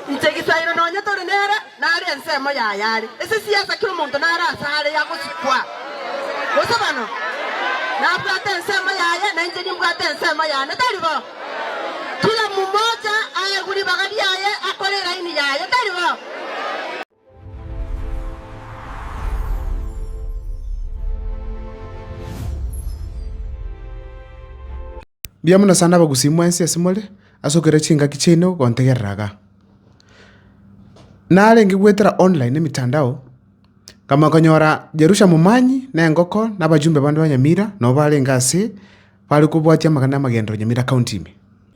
Inche egesaero nonya tore nere nare ensemo yaye are ase siasa kera omonto nare asare yagosikwa gose bano nabwate ensemo yaye na inche nimbwate ensemo yane tari bo kila mumocha aegwe ribaga riaye akore eraini yaye tari bo Mbuya mono sana abagusii mwensi ase more, ase okera chingaki chiaino gontegerera iga. Narenge goetera online, emetandao, nkamoa konyora Jerusha Momanyi, na engoko, na abajumbe bande ba Nyamira, nabo barenge ase, bare kobwatia amang'ana ya amagenderero Nyamira County ime.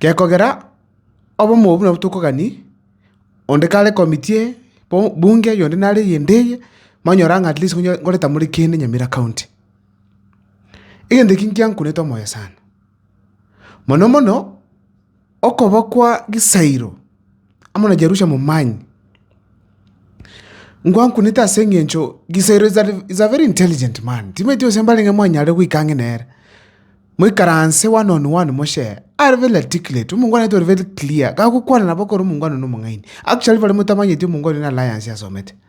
Gekogera obomo obwo nabwo tokogani, onde kare committee eye, bunge eye, onde nare eyende eye, manyora ng'a at least ngonye ngoreta more kende Nyamira county. Egento eki ngiankunete omoyo sana, mono mono, okoba kwa Gisairo. amo na Jerusha momanye. Ngwankunete ase engencho Gisero is a very intelligent man, timanyeti gose mbarenge mwanyare goika ang'e nere. Moikaranse one on one moshare, are very articulate, omongwana oito ore very clear, gagokwana nabo ekero omongwana one omong'aini. Actually bare motamanyeti omongwana oyo na alliance asomete.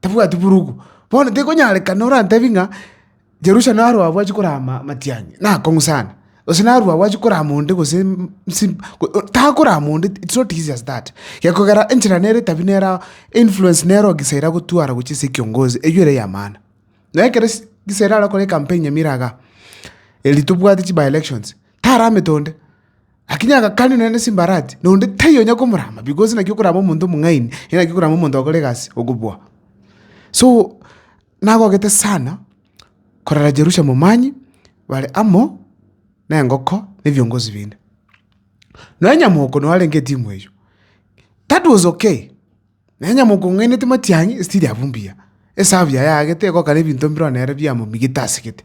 tebwati burugu. Bono tekonyarekana orantebi ng'a Jerusalemu narua abwo achia korama amatiang'i, nakong'u sana, gose narua abwo achia korama onde gose nsi takorama onde it's not easy as that. Gekogera enchera nere etabia nere ao, influence nere oo gisa eria agotwara gochia ase ekiongozi, eywo ere eya maana. Na ekero ase gisa eria arakore ecampaign nyamira igaa, erio tobwate chi-by-elections, taramete onde. Lakini agakania nere ne chimbarati, na onde taiyo onya komorama, bikoro ase naki okorama omonto omong'aini, ere naki okorama omonto ogokora egasi, okobua. So, nagogete sana korara Jerusalemu mambia bare amo nengoko na ebiongozi binde. Nonya moko naro arenge etimu eyio, that was okay. Na onye mokong'ainetie matiang'i, esitiri abwo mbuya, esahabu yaye aagete egokana ebinto mbiro nere biamomigete asegete.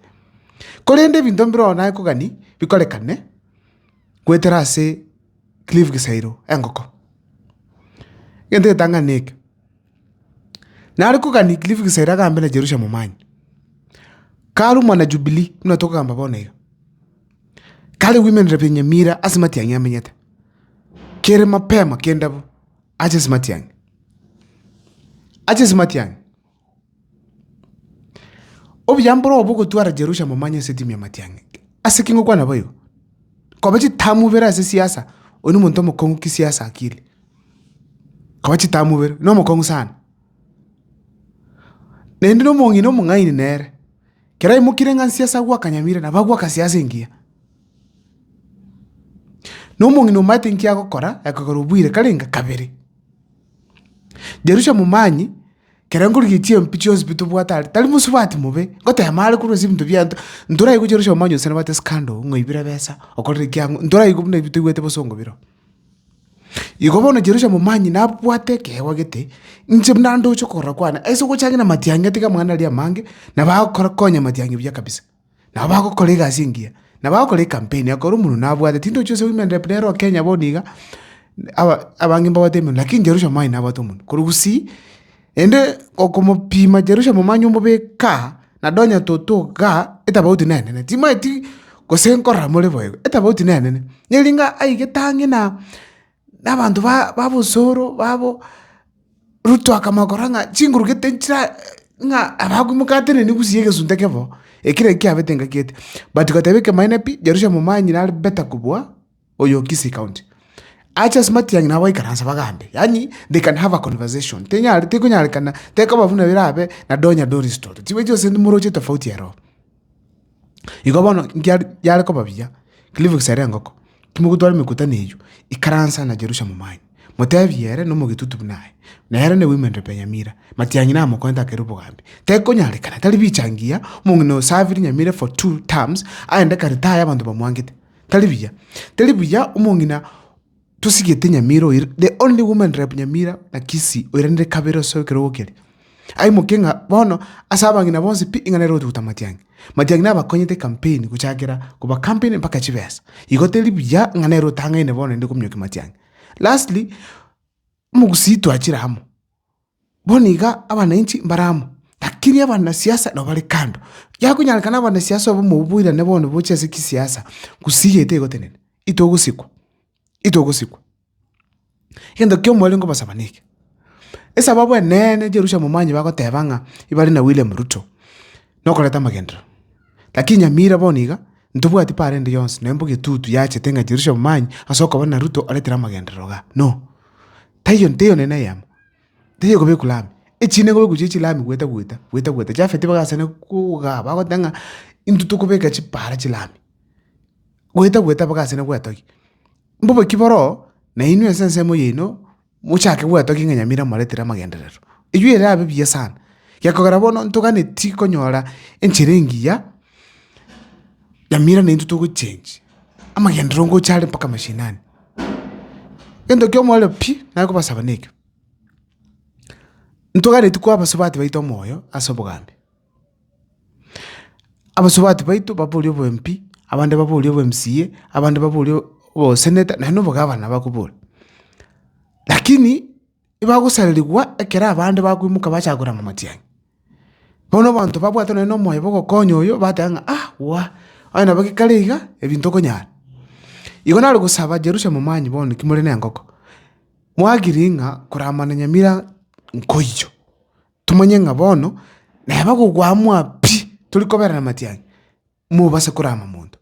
Korende ebinto mbiro naye kogani bikorekane goetera ase Cliff Gisairo engoko. Egento egetang'ani neke, nare kogani Cliff Gisairo agambe na Jerusha Momanyi, karumwa na Jubilee buna togokamba bono iga, kare women rep ya Nyamira ase matiang'i amenyete, kere mapema kende abwo. Aches matiang'i, aches matiang'i! Obuya mbore obo ogotwara Jerusalemu omanye ense timia matiang'i. Ase ki ngokwana boigo? Koba chitahamu ibere ase siasa, oyo nomonto omokong'u kisiasa akili. Koba chitahamu ibere, nomokong'u sana. Naende nomong'ina omong'aini nere, kero aimokire ng'a nsiase agwo akanyamira, nabo agwo akasiasa engiya. Na omong'ina omanyete inki agokora, ekogera obuire karenge kabere. Jerusia momanye, kere nkorigia chiempi chionsi pi tobwate are, tari mosubati mobe, ngotema are korwa ase ebinto biaito, ntoraigwe buna Jerusia omanye onsi nabwate scandal, ng'oibire ebesa, okorire ki ang'o, ntoraigwe buna ebi toigwete bosongo bire oo. Igo bono Jerusia momanye nabwate ekeegwa gete, inche buna ndoche okorora kwane, ase ogochangi na matiang'e tiga mwana aria amange, nabo agokora konya matiang'e buya kabisa. Nabo bagokora egasi engiya, nabo agokora ekampeni akore omonwe nabwate, tindochi ase women rep nero Kenya bono iga, aba abange mbabwate emenwa lakini Jerusha mwane nabwate omonwe. Korwa gusii, naende okomopima Jerusha momanye omobeke aa, nado onye toto igaa, etabauti nenene, timanyeti gose nkorora more boigo, etabauti nenene. Nere inga aigete ang'e na. na abanto ba babosoro babo, Ruto akamokora ng'a chinguru gete nchira ng'a abakomokateneni gusii egesunte ekio bo, ekira ekio kiabete ngakiete. But goteba ekemanyeene pi, Jerusaremu omanyire are better kobua oyo o Kisii county. Ache ase matiang'i nabo baikaranse bagambe, yaani they can have a conversation, tenyare tekonyarekana tekoba buna birabe na Donya Doris Toto, chibere chionsi moroche tofauti ero. Igo bono nkiare yare koba buya, Cliff gisera engoko, timogotwara emekutano eyio, ikaransa na Jerusalemu mwanye, motebie ere na omogetutu buna aye, na ere ne women re Benyamira, matiang'i namokonte akere obogambi. Tekonyarekana, tari bicha ngiya, omong'ina osavire nyamere for two terms, aende kare taya abanto bamwangete. Tari buya. Tari buya omong'ina. Tosigete nyamira oira, the only woman rep nyamira na Kisii oiranire kabere ase ekerogo keria. Aimoke ng'a bono ase abang'ina bonsi pi ing'ana ere ogotuguta Matiang'i. Matiang'i nabakonyete ecampaign gochakera koba campaign mpaka chibesa. Igo teri buya ng'a nere otang'aine bono naende kominyokia Matiang'i. Lastly, omogusii twachire amo. Bono iga abananchi mbare amo, lakini abanasiasa nabo bare kando. Yakonyarekana abanasiasa obomo oboirane bono boche ase kisiasa, gusii iga tegotenena, itogosikwa, itogosikwa. Egento kiaomo ere nkobosaba neke, esababu eneene Jerusalem momanye bagoteba ng'a ebare na William Ruto, nokoreta amagenderero. Lakini Nyamira bono iga, ntobwati paro ende yonsi, nonya mbono etutu yachete ng'a Jerusalem momanye ase okoba na Ruto aretire amagenderero igaa, no! Taiyo nteiyo nene eyemo. tari ekobekwa lami, echiina ekobekwa chie chilami goeta goeta, goeta goeta. Jafeti bagachana kogaa bagoteba ng'a intwe tokobeka chipaara chilami, goeta goeta bagachana goetogia. Mbobaki boroo, na inwe ase ensemo yaino, mochake goetogia ng'a nyamira moretire amagenderero. Eyio erabe buya sana, gekogera bono ntoganeti konyora enchera engiya. Nyamira naintwe togochengi, amagenderero ngocha are mpaka mashinani. Egento kia omoerio pi, nare kobasaba nekio, ntogachareti koa abasubati baito omoyo ase obogambi. Abasubati baito baborie obo MP, abande baborie obo MCA, abande baborie obo senator, naende obo gavana bakobori. Lakini. ebagosarerigwa ekero abande bakoimoka bachaka korama amatiang'i. Bono abanto babwate nonye nomoyo bw'ogokonya oyo bateba ng'a ah gwa, onye nabo gekare iga, ebi ntokonyara. Igo nare gosaba Jerusalemu mwanyi bono naki more nengoko, mwagiri ng'a korama na nyamira nkoiyo, tomanye ng'a bono neba gokwamoa pi, tori koberana amatiang'i, mobase korama monto.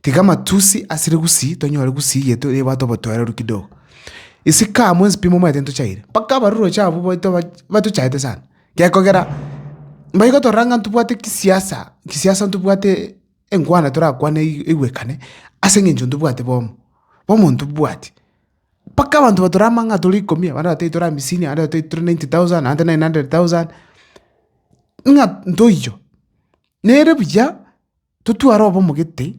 Tiga amatusi asire gusii tonyore gusii yetu nebwate obotoereru kidogo. Isiko amo enswe pi momanyete ntochaire, mpaka abarorochi abwo baito ba- batochaete sana. Gekogera mbayi gotorora ng'a ntobwate kisiasa, kisiasa ntobwate engwana torakwane ei- eigwekane, ase eng'encho ntobwate bomo, omonto mbwati. Mpaka abanto batorama ng'a tore ikomi, abande batebia tore amisini, abande batebia tore ninety thousand, abande tore nine hundred thousand, ng'a ntoiyo. Nere buya totware obe omogete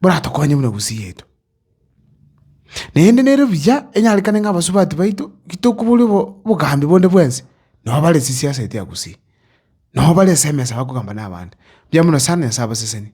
boratokonye buna gusii yaito. Naende nere buya enyarekane ng'a abasubati baito gitokoboria obo- obogambi bonde bwensi, nabo bare chisiaseti ya gusii, nabo bare ase emesa bakogamba na abande. Mbuya mono sana Nyasae abasesenie.